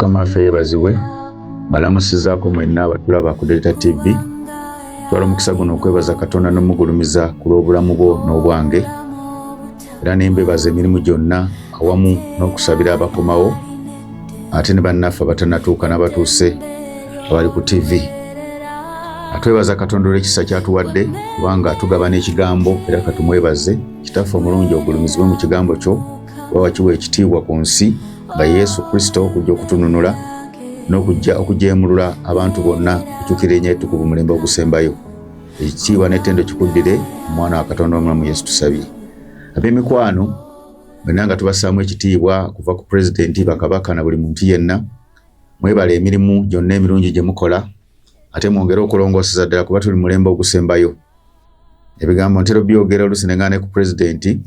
mukama ffe yebazibwe balamusizaako mwenna abatulaba ku delta tv twala omukisa guno okwebaza katonda nomugulumiza ku lw'obulamu bwo n'obwange era ne mbebaza emirimu gyonna awamu n'okusabira abakomawo ate ne bannaffe abatanatuuka n'abatuuse abali ku tivi atwebaza katonda olw'ekisa kyatuwadde kubanga tugaba n'ekigambo era katumwebaze kitaffe omulungi ogulumizibwe mu kigambo kyo oba wakiwa ekitiibwa ku nsi nga yesu kristo okujja okutununula n'okujja okujeemulula abantu bonna okukyukira enyo etukuvu mulembe ogusembayo Ekitiibwa n'ettendo kikuddire omwana wa Katonda omulamu Yesu tusabye. Ab'emikwano bonna nga tubassaamu ekitiibwa kuva ku pulezidenti, bakabaka na buli muntu yenna. Mwebale emirimu gyonna emirungi gye mukola ate mwongere okulongooseza ddala kuba tuli mulembe ogusembayo. Ebigambo ntera byogera oluusi ne ng'ane ku pulezidenti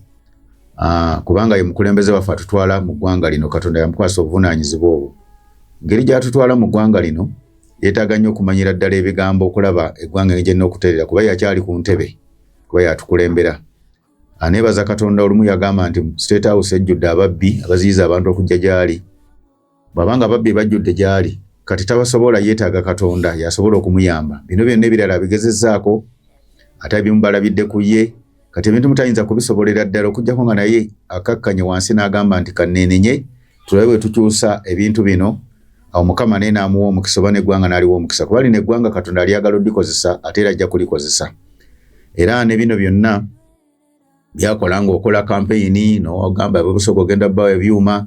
ah, kubanga ye mukulembeze waffe atutwala mu ggwanga lino Katonda yamukwasa obuvunaanyizibwa obwo. Engeri gy'atutwala mu ggwanga lino Yetaaga nnyo okumanyira ddala ebigambo okulaba eggwanga engeri gyerina okutereera kuba yakyali ku ntebe kuba yatukulembera. Aneebaza Katonda olumu yagamba nti State House ejjudde ababbi abaziyiza abantu okujja gy'ali. Bw'aba nga ababbi bajjudde gy'ali kati tabasobola yeetaaga Katonda y'asobola okumuyamba. Bino byonna ebirala abigezezzaako ate ebimu balabidde ku ye. kati ebintu mutayinza kubisobolera ddala okujjako nga naye akakkanye wansi n'agamba nti kanneenenye tulabe bwe tukyusa ebintu bino awo mukama naye n'amuwa omukisa oba n'eggwanga n'aliwa omukisa kuba lino eggwanga katonda alyagala odikozesa ate era ajja kulikozesa era ne bino byonna byakola ng'okola kampeyini n'ogamba bwe busobola ogenda bawa ebyuma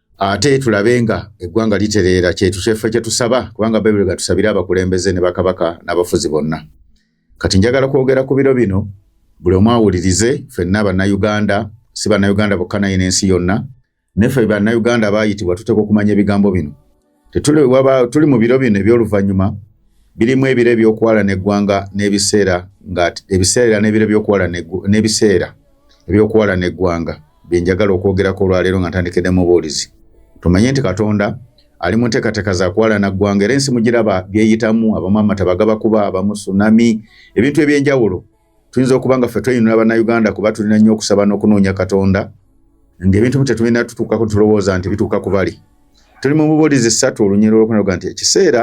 ate tulabe nga eggwanga litereera kyetukyeffe kye tusaba kubanga bayibuli gatusabire abakulembeze ne bakabaka n'abafuzi bonna kati njagala kwogera ku biro bino buli omu awulirize ffenna bannayuganda si bannayuganda bokka naye n'ensi yonna neffe bannayuganda abaayitibwa tuteeka okumanya ebigambo bino Tetuli waba tuli mu biro bino eby'oluvannyuma birimu ebiro eby'okwala n'eggwanga n'ebiseera nga ebiseera n'ebiro by'okwala n'ebiseera eby'okwala n'eggwanga bye njagala okwogerako olwaleero nga ntandikidde mu buulizi tumanye nti katonda ali mu nteekateeka za kwala na ggwanga era ensi mugiraba byeyitamu abamu amata bagabakuba abamu sunami ebintu eby'enjawulo tuyinza okuba nga ffe tweyinula bannayuganda kuba tulina nnyo okusaba n'okunoonya katonda ng'ebintu mu tetulina tutuukako tulowooza nti bituuka ku bali tuli mu bubuulizi ssatu olunyero olwokunaluga nti ekiseera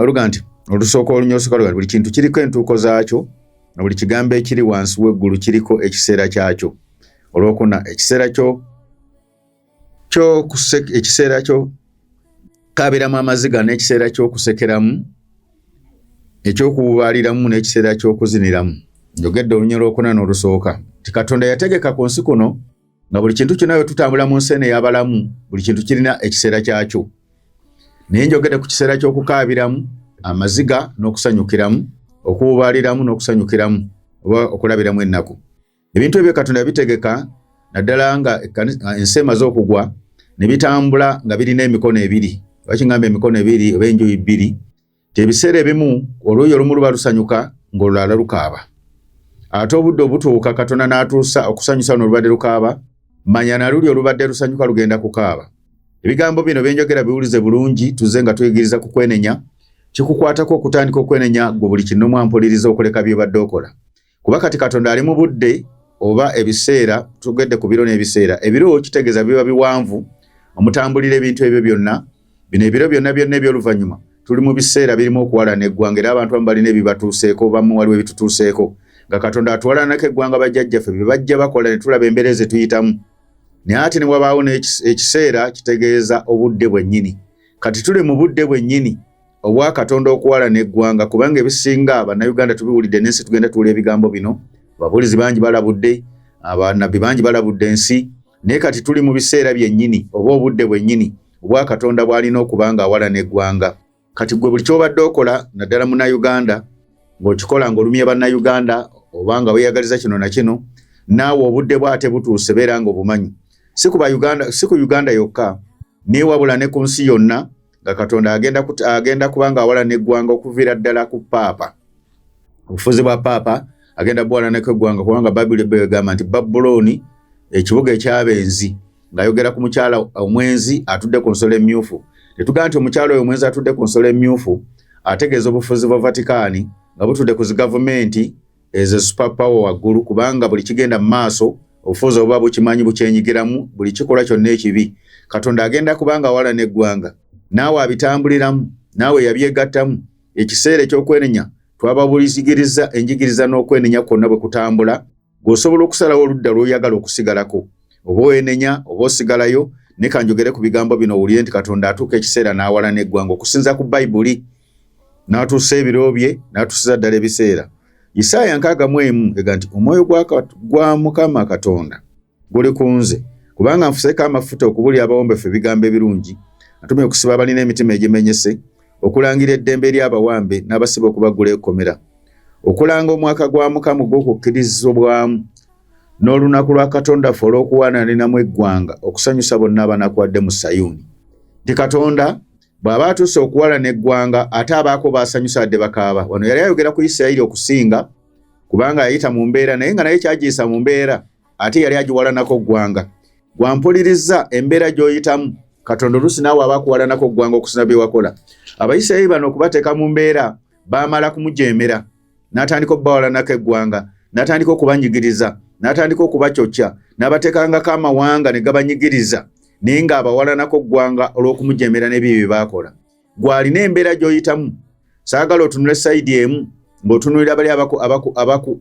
luga nti olusooka olunyero lusooka luga nti buli kintu kiriko entuuko zaakyo na buli kigambo ekiri wansi w'eggulu kiriko ekiseera kyakyo olwokuna ekiseera kyo kyo ekiseera kyo kabiramu amaziga n'ekiseera ky'okusekeramu ekyokuwubaaliramu n'ekiseera ky'okuziniramu njogedde olunya lwokuna n'olusooka nti katonda yategeka ku nsi kuno nga buli kintu kyonna we tutambula mu nsi eno eyabalamu buli kintu kirina ekiseera kyakyo naye njogedde ku kiseera ky'okukaabiramu amaziga n'okusanyukiramu okuwubaaliramu n'okusanyukiramu oba okulabiramu ennaku ebintu ebyo katonda yabitegeka naddala nga ensi emaze okugwa ne bitambula nga birina emikono ebiri wakingamba emikono ebiri oba enjuyi bbiri ti ebiseera ebimu oluuyi olumu luba lusanyuka ng'olulala lukaaba ate obudde obutuuka katonda n'atuusa okusanyusa luno olubadde lukaaba manya na luli olubadde lusanyuka lugenda kukaaba ebigambo bino byenjogera biwulize bulungi tuze nga tuyigiriza ku kwenenya kikukwatako okutandika okwenenya gwe buli kinnomu ampuliriza okuleka byobadde okola kuba kati katonda ali mu budde oba ebiseera tugedde ku biro n'ebiseera ebiro kitegeeza biba biwanvu omutambulira ebintu ebyo byonna bino ebiro byonna byonna ebyoluvannyuma tuli mu biseera birimu okuwalana eggwanga era abantu amu balina ebibatuuseeko bamu waliwo ebitutuuseeko nga katonda atuwalanako eggwanga bajjajjaffe bye bajja bakola ne tulaba embeera ze tuyitamu naye ate ne wabaawo n'ekiseera kitegeeza obudde bwennyini kati tuli mu budde bwennyini obwa katonda okuwala n'eggwanga kubanga ebisinga bannayuganda tubiwulidde n'ensi tugenda tuula ebigambo bino ababulizi bangi balabudde abanabbi bangi balabudde ensi naye kati tuli mu biseera byennyini oba obudde bwennyini obwa katonda bw'alina okuba nga awala n'eggwanga kati gwe buli ky'obadde okola naddala munnayuganda ng'okikola ng'olumye bannayuganda oba nga weeyagaliza kino na kino naawe obudde bwate butuuse beera ng'obumanyi si ku uganda yokka neewabula ne ku nsi yonna nga katonda agenda, kut, agenda kubanga awala neggwanga okuviira ddala ku paapa obufuzi bwa paapa agenda buwalanako eggwanga kubanga babuli ebeyo egamba nti babulooni ekibuga ekyabenzi ng'ayogera ku mukyala omwenzi atudde ku nsolo emmyufu tetugamba nti omukyala oyo omwenzi atudde ku nsolo emmyufu ategeeza obufuzi bwa vatikaani nga butudde ku zigavumenti ezo super power waggulu kubanga buli kigenda mu maaso obufuuzi obuba bukimanyi bukyenyigiramu buli kikolwa kyonna ekibi katonda agenda kubanga wala n'eggwanga naawe abitambuliramu naawe yabyegattamu ekiseera eky'okwenenya twababulizigiriza enjigiriza n'okwenenya kwonna bwe kutambula gweosobola okusalawo oludda lwoyagala okusigalako oba oenenya oba osigalayo ne kanjogere ku bigambo bino owulire nti katonda atuuka ekiseera n'awala n'eggwanga okusinza ku bayibuli n'atuusa ebiro bye n'atuusiza ddala ebiseera isaaya nkaaga mu emu ega nti omwoyo gwa mukama katonda guli ku nze kubanga nfuseeko amafuta okubulira abawombefu ebigambo ebirungi atumye okusiba abalina emitima egimenyese okulangira eddembe eri abawambe n'abasiba okubaggula ekkomera okulanga omwaka gwa mukama ogw'okukkirizobwamu n'olunaku lwa katonda ffe olw'okuwaananinamu eggwanga okusanyusa bonna abanakuwadde mu sayuuni nti katonda bw'aba atuuse okuwalana eggwanga ate abaako baasanyusa adde bakaaba wano yali ayogera ku isirayiri okusinga kubanga yayita mu mbeera naye nga naye kyagiyisa mu mbeera ate yali agiwalanako ggwanga gwampulirizza embeera gy'oyitamu katonda oluusi naawe aba akuwalanako ggwanga okusina bye wakola abayisirayiri bano okubateeka mu mbeera baamala kumujeemera n'atandika okubawalanako eggwanga n'atandika okubanyigiriza n'atandika okubakyokya n'abateekangako amawanga ne gabanyigiriza naye ng'abawalanako ggwanga olw'okumujemera n'ebyo bye baakola gw'alina embeera gy'oyitamu saagala otunule sayidi emu ng'otunulira bali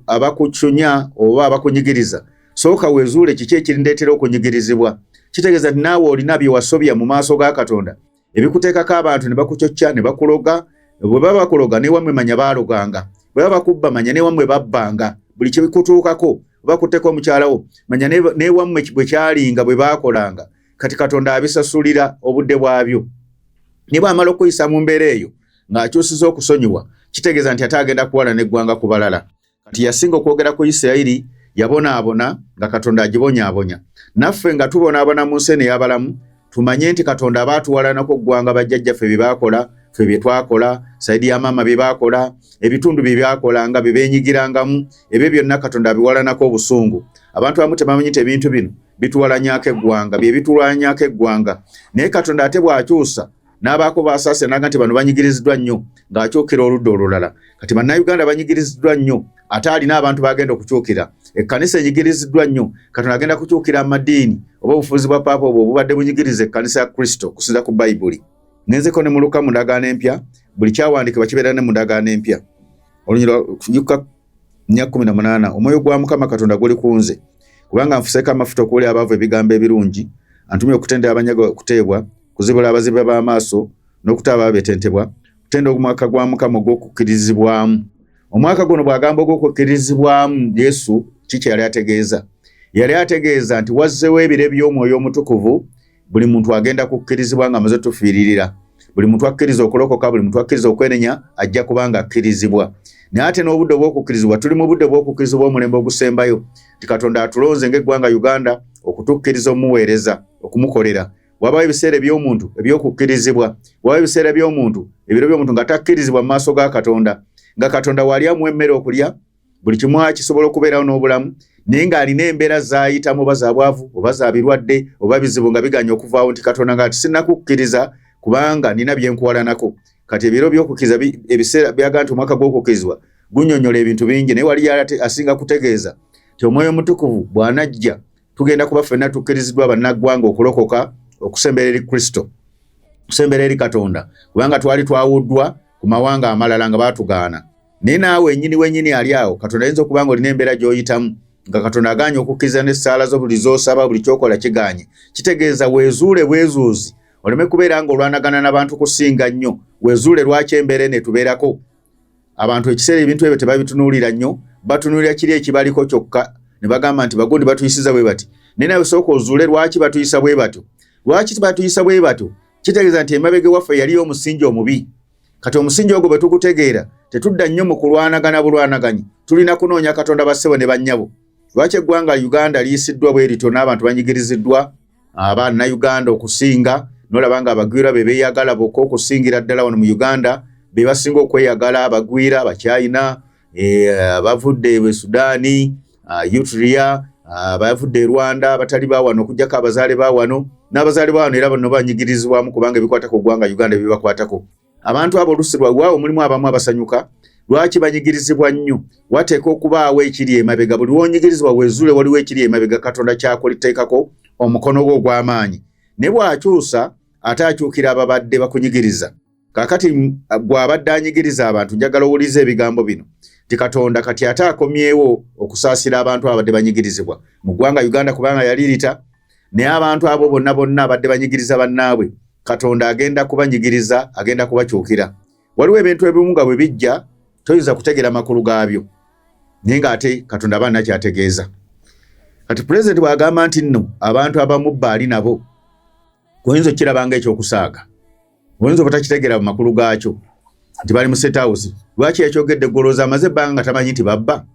abakucunya oba abakunyigiriza sooka wezuule kiki ekirindeetera okunyigirizibwa kitegeeza nti naawe olina bye wasobya mu maaso ga katonda ebikuteekako abantu ne bakucocca ne bakuloga bwe baba bakuloga newamwe manya baaloganga bwe baba bakubba manya newamwe babbanga buli kyebikutuukako bakutteko omukyalawo manya newamwe bwe kyalinga bwe baakolanga kati katonda abisasulira obudde bwabyo ne bwamala okuyisa mu mbeera eyo ng'akyusiza okusonyiwa kitegeeza nti ate agenda kuwala n'eggwanga ku balala kati yasinga okwogera ku isirayiri yabonaabona nga katonda agibonyaabonya naffe nga tubonaabona mu nsi eno eyabalamu tumanye nti katonda aba atuwalanako okuggwanga bajjajjaffe bye baakola ffe bye twakola saidi ya maama bye baakola ebitundu bye byakola nga bye beenyigirangamu ebyo byonna katonda abiwalanako obusungu abantu abamu tebamanyi nti ebintu bino bituwalanyako eggwanga bye bitulwanyako eggwanga naye katonda ate bw'akyusa n'abaako baasaasira naga nti bano banyigiriziddwa nnyo ng'akyukira oludda olulala kati bannayuganda banyigiriziddwa nnyo ate alina abantu baagenda okukyukira ekkanisa enyigiriziddwa nnyo katonda agenda kukyukira amadiini oba obufuzi bwa paapa obwo obubadde bunyigiriza ekkanisa ya kristo okusinza ku bayibuli ngenzeko ne muluka mu ndagaano empya buli kyawandiikibwa kibeera ne mu ndagaano empya olunyira nya kumi na munaana omwoyo gwa mukama katonda guli ku nze kubanga nfuseeko amafuta okuwulira abaavu ebigambo ebirungi antumye okutendera abanyaga okuteebwa kuzibula abazibe b'amaaso n'okuta abaabetentebwa kutenda omwaka gwa mukama ogw'okukkirizibwamu omwaka guno bw'agamba ogw'okukkirizibwamu yesu kiki yali ategeeza yali ategeeza nti wazzewo ebire by'omwoyo omutukuvu buli muntu agenda kukkirizibwa nga maze tufiiririra buli muntu akkiriza okulokoka buli muntu akkiriza okwenenya ajja kubanga akkirizibwa naye ate n'obudde obw'okukkirizibwa tuli mu budde bw'okukkirizibwa omulembe ogusembayo nti katonda atulonze ng'eggwanga uganda okutukkiriza omuweereza okumukolera wabawo ebiseera eby'omuntu eby'okukkirizibwa wabawo ebiseera by'omuntu ebiro by'omuntu nga takkirizibwa mu maaso ga katonda nga katonda waali amuwa emmere okulya buli kimu akisobola okubeerawo n'obulamu naye ng'alina embeera zaayitamu oba zabwavu oba za birwadde oba bizibu nga biganya okuvaawo nti katonda nga tisinakukkiriza kubanga nina byenkuwalanako kati ebiro byokukiriza ebiseera byaga nti omwaka gw'okukkirizibwa gunyonyola ebintu bingi naye waliyo ate asinga kutegeeza ti omwoyo omutukuvu bw'anajja tugenda kuba ffenna tukkiriziddwa bannaggwanga okulokoka okusembera eri kristo okusembera eri katonda kubanga twali twawuddwa ku mawanga amalala nga baatugaana naye naawe enyini wenyini ali awo katonda ayinza okuba nga olina embeera gy'oyitamu nga katonda aganye okukkiriza n'essaala zo buli z'osaba buli kyokola kiganye kitegeeza weezuule bwezuuzi oleme kubeera nga olwanagana n'abantu kusinga nnyo weezuule lwaki embeera eno etubeerako abantu ekiseera ebintu ebyo tebabitunuulira nnyo batunuulira kiri ekibaliko kyokka ne bagamba nti bagundi batuyisiza bwe bati naye nawe sooka ozuule lwaki batuyisa bwe batyo lwaki batuyisa bwe batyo kitegeeza nti emabega ewaffe yaliyo omusingi omubi kati omusingi ogwo bwe tugutegeera tetudda nnyo mu kulwanagana bulwanaganyi tulina kunoonya katonda bassebo ne bannyabo lwaki eggwanga uganda liyisiddwa bwe lityo n'abantu banyigiriziddwa abaana uganda okusinga nolaba nga abagwira be beeyagala bokka okusingira ddala wano mu uganda be basinga okweyagala abagwira abakyayina eh, bavudde e sudaani ah, utria ah, bavudde e rwanda abatali bawano okujjako abazaale bawano n'abazaale bawano era bano banyigirizibwamu kubanga ebikwatako ogwanga uganda byebakwatako abantu abo olusi lwawaawo mulimu abamu abasanyuka lwaki banyigirizibwa nnyo wateeka okubaawo ekiri emabega buli wonyigirizibwa wezuule waliwo ekiri emabega katonda kyakuliteekako omukono gwe ogw'amaanyi ne bw'akyusa ate akyukira ababadde bakunyigiriza kakati gwe abadde anyigiriza abantu njagala owuliza ebigambo bino ti katonda kati ate akomyewo okusaasira abantu abadde banyigirizibwa mu ggwanga uganda kubanga yali rita naye abantu abo bonna bonna abadde banyigiriza bannaabwe katonda agenda kubanyigiriza agenda kubakyukira waliwo ebintu ebimu nga bwe bijja toyinza kutegera makulu gaabyo naye ng'ate katonda aba nakyategeeza kati pulezidenti bw'agamba nti nno abantu abamu baali nabo oyinza okukirabanga ekyokusaaga oyinza obutakitegeera mu makulu gaakyo nti bali mu state house lwaki yakyogedde golooza amaze ebbanga nga tamanyi nti babba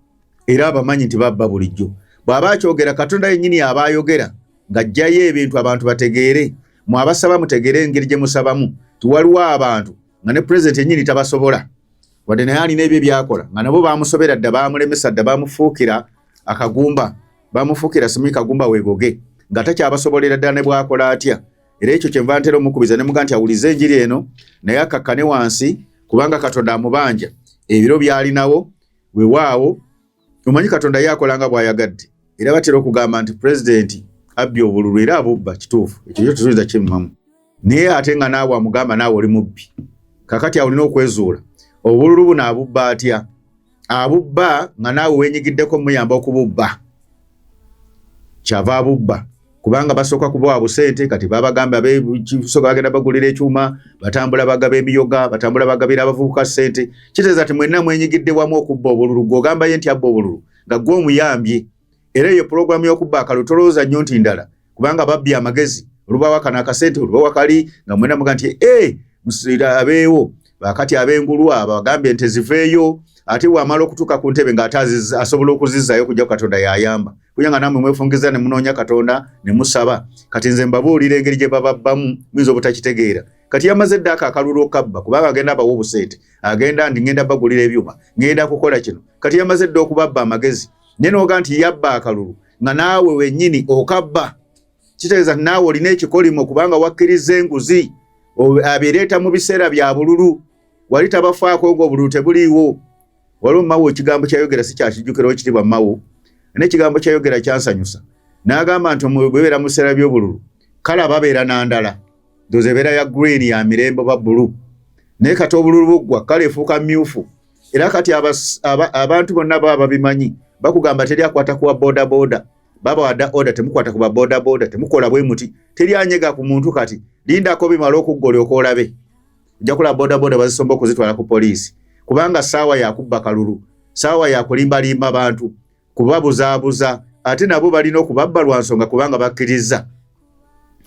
era abamanyi nti babba bulijjo bw'aba akyogera katonda yennyini aba ayogera ng'aggyayo ebintu abantu bategeere mu abasaba mutegeere engeri gye musabamu ti waliwo abantu nga ne pulezidenti yennyini tabasobola wadde naye alina ebyo ebyakola nga nabo bamusobera dda bamulemesa dda bamufuukira akagumba bamufuukira simuyi kagumba wegoge nga takyabasobolera ddala ne bwakola atya era ekyo kyenva ntera omukubiza ne muga nti awulize enjiri eno naye akakkane wansi kubanga katonda amubanja ebiro byalinawo wewaawo omanyi katonda ye akola nga bwayagadde era batera okugamba nti pulezidenti abbye obululu era abubba kituufu ekyo kyo tusubiza kimumamu naye ate nga naawe amugamba naawe oli mubbi kakati awulina okwezuula obululu buno abubba atya abubba nga naawe wenyigiddeko muyamba okububba kyava abubba kubanga basooka kubawa busente kati babagamba bekisoka bagenda bagulira ekyuma batambula bagaba emiyoga batambula bagabira abavubuka sente kiteeza ti mwenna mwenyigidde wamu okubba obululu gweogambaye nti abba obululu nga gwe omuyambye era eyo pulogulaamu y'okubba akalulu tolowooza nnyo nti ndala kubanga babbye amagezi olubawa kano akasente olubawa kali nga mwena muga nti e musira abeewo bakati ab'engulu abo agambye nti ziveeyo ate wamala okutuuka ku ntebe ng'ate asobola okuzizzayo kujja katonda yayamba kuya nga namwe mwefungiza ne munoonya katonda ne musaba kati nze mbabuulira engeri gye bababbamu muyinza obutakitegeera kati yamaze eddaako akalulu okabba kubanga agenda abawa obusente agenda ndi ngenda bagulira ebyuma ngenda kukola kino kati yamaze edda okubabba amagezi naye noga nti yabba akalulu nga naawe wenyini okabba kitegeeza ti naawe olina ekikolimo kubanga wakkiriza enguzi abireeta mu biseera bya bululu wali tabafaako nga obululu tebuliiwo waliwo mawo ekigambo kyayogera si kyakijjukirawo kitibwa mawo nekigambo kyayogera kyansanyusa n'agamba nti bwebeera mu biseera by'obululu kale ababeera na ndala ndoza ebeera ya green ya mirembe ba bulu naye kati obululu buggwa kale efuuka myufu era kati abantu bonna baba babimanyi bakugamba teri akwata kuwa bodaboda baba wada oda temukwata kuba bodaboda temukola bwe muti teri anyega ku muntu kati lindako bimala okuggole okolabe ojja kulaba bodaboda bazisomba okuzitwala ku poliisi kubanga saawa yakubba kalulu saawa yakulimbalimba bantu kubabuzaabuza ate nabo balina okubabba lwa nsonga kubanga bakkirizza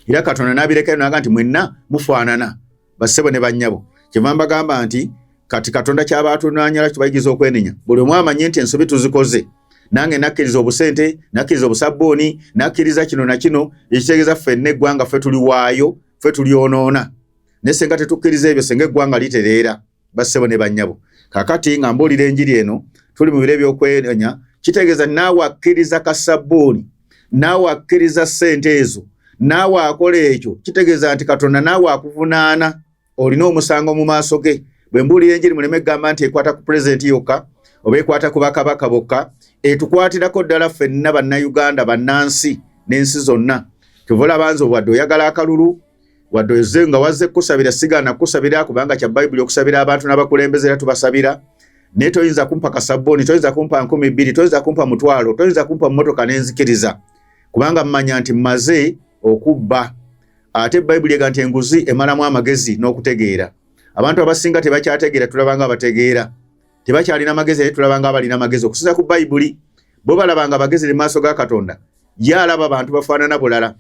era katonda nabirekayo naga nti mwenna mufaanana bassebo ne bannyabo kyeva mbagamba nti kati katonda kyaba atunanyala kibayigiza okwenenya buli omu amanye nti ensobi tuzikoze nange nakkiriza obusente nakkiriza obusabbuuni nakkiriza kino na kino ekitegeeza ffenna eggwanga ffe tuliwaayo ffe tulyonoona naye senga tetukkiriza ebyo senga eggwanga litereera bassebo ne bannyabo kakati nga mbuulira enjiri eno tuli mu biro ebyokwenenya kitegeeza naawe akkiriza kasabbuuni naawe akkiriza ssente ezo naawe akola ekyo kitegeeza nti katonda naawe akuvunaana olina omusango mu maaso ge bwe mbuulira enjiri muleme kugamba nti ekwata ku pulezidenti yokka oba ekwata ku bakabaka bokka etukwatirako ddala ffenna bannayuganda bannansi n'ensi zonna kyova olabanza obwadde oyagala akalulu wadde oze nga wazze kukusabira sigaana kukusabira kubanga kya bayibuli okusabira abantu n'abakulembeze era tubasabira naye toyinza kumpa kasabbuuni toyinza kumpa nkumi bbiri toyinza kumpa mutwalo toyinza kumpa mmotoka n'enzikiriza kubanga mmanya nti mmaze okubba ate bayibuli ega nti enguzi emalamu amagezi n'okutegeera abantu abasinga tebakyategeera tulabanga abategeera tebakyalina magezi naye tulabanga abalina amagezi okusinza ku bayibuli bo balabanga abagezi ne maaso ga katonda ye alaba abantu bafaanana bulala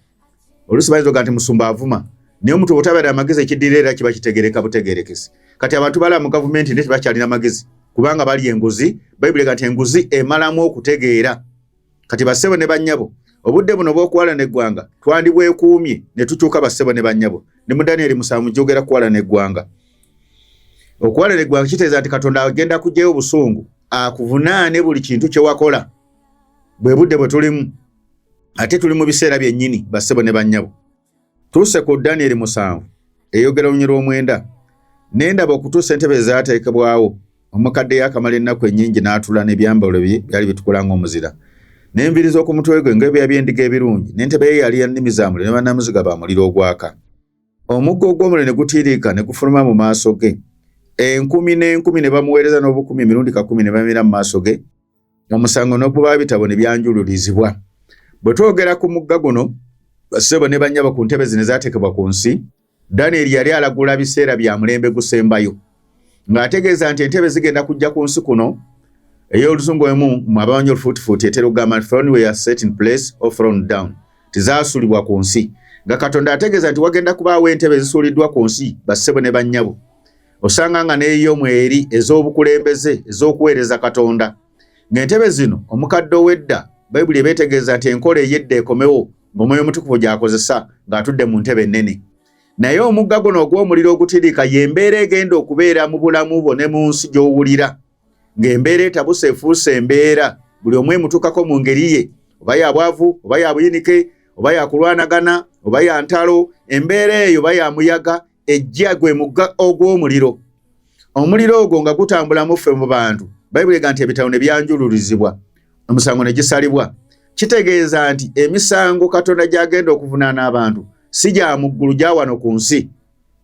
olusi bayinza oga nti musumba avuma naye omuntu obutabera amagezi ekiddira era kiba kitegereka butegerekesi kati abantu balaba mu gavumenti naye tebakyalina magezi kubanga bali enguzi bayibuli ga nti enguzi emalamu okutegeera kati bassebo ne bannyabo obudde buno bw'okuwalana eggwanga twandibwekuumye ne tukyuka bassebo ne bannyabo ne mu danieri musanvu gyogera kuwalana eggwanga okuwalana eggwanga kiteeza nti katonda agenda kugyayo obusungu akuvunaane buli kintu kye wakola bwe budde bwe tulimu ate tuli mu biseera byennyini bassebo ne bannyabo tuuse ku danieri musanvu eyogera olunyi lw'omwenda nendaba okutuusa entebe ezaateekebwawo omukadde yakamala ennaku ennyingi n'atula n'ebyambalo bye byali bitukula ng'omuzira n'enviri z'oku mutwe gwe ng'ebya by'endiga ebirungi n'entebe ye yali ya nnimi za muliro ne bannamuziga ba muliro ogwaka omuggo ogw'omuliro ne gutiiriika ne gufuluma mu maaso ge enkumi n'enkumi ne bamuweereza n'obukumi emirundi kakumi ne bamira mu maaso ge omusango n'okuba bitabo ne byanjululizibwa bwe twogera ku mugga guno basebo ne bannyabo ku ntebe zino ezaateekebwa ku nsi danyeri yali alagula biseera bya mulembe gusembayo ng'ategeeza nti entebe zigenda kujja ku nsi kuno ey'oluzungu emu mu abamanyi olufuutifuuti etera okugamba nti throne were set in place or thrown down tizaasulibwa ku nsi nga katonda ategeeza nti wagenda kubaawo entebe ezisuuliddwa ku nsi basebo ne bannyabo osanga nga neeyo mweri ez'obukulembeze ez'okuweereza katonda ng'entebe zino omukadde ow'edda bayibuli ebeetegeeza nti enkola ey'edda ekomewo ng'omwoyo omutukuvu gy'akozesa ng'atudde mu ntebe ennene naye omugga guno ogw'omuliro ogutiriika y'embeera egenda okubeera mu bulamu bwo ne mu nsi gy'owulira ng'embeera etabuse efuuse embeera buli omu emutuukako mu ngeri ye oba ya bwavu oba ya buyinike oba ya kulwanagana oba ya ntalo embeera eyo oba ya muyaga ejja gwe mugga ogw'omuliro omuliro ogwo nga gutambulamu ffe mu bantu bayibuli ega nti ebitabo ne byanjululizibwa omusango ne gisalibwa kitegeeza nti emisango katonda gy'agenda okuvunaana abantu si gya muggulu gya wano ku nsi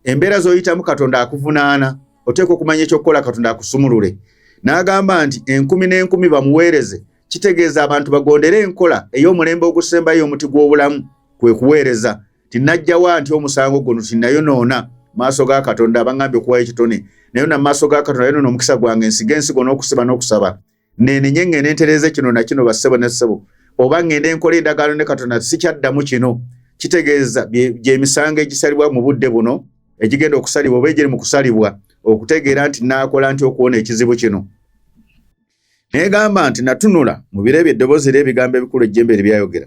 embeera z'oyitamu katonda akuvunaana oteekwa okumanya ekyokukola katonda akusumulule n'agamba nti enkumi n'enkumi bamuweereze kitegeeza abantu bagondere enkola ey'omulembe ogusembayo omuti gw'obulamu kwe kuweereza tinajjawa nti omusango guno tinayonoona maaso ga katonda abangambye okuwayo ekitone naye na maaso ga katonda yonona omukisa gwange nsiga ensigo n'okusiba n'okusaba nenenye ŋŋende ntereeze kino na kino bassebo ne ssebo oba ŋŋende nkola endagaano ne katonda sikyaddamu kino kitegeeza gyemisango egisalibwa mu budde buno egigenda okusalibwa oba egiri mu kusalibwa okutegeera nti naakola nti okuwona ekizibu kino negamba nti natunula mu biro ebyo eddoboozi era ebigambo ebikulu ejjembe eri byayogera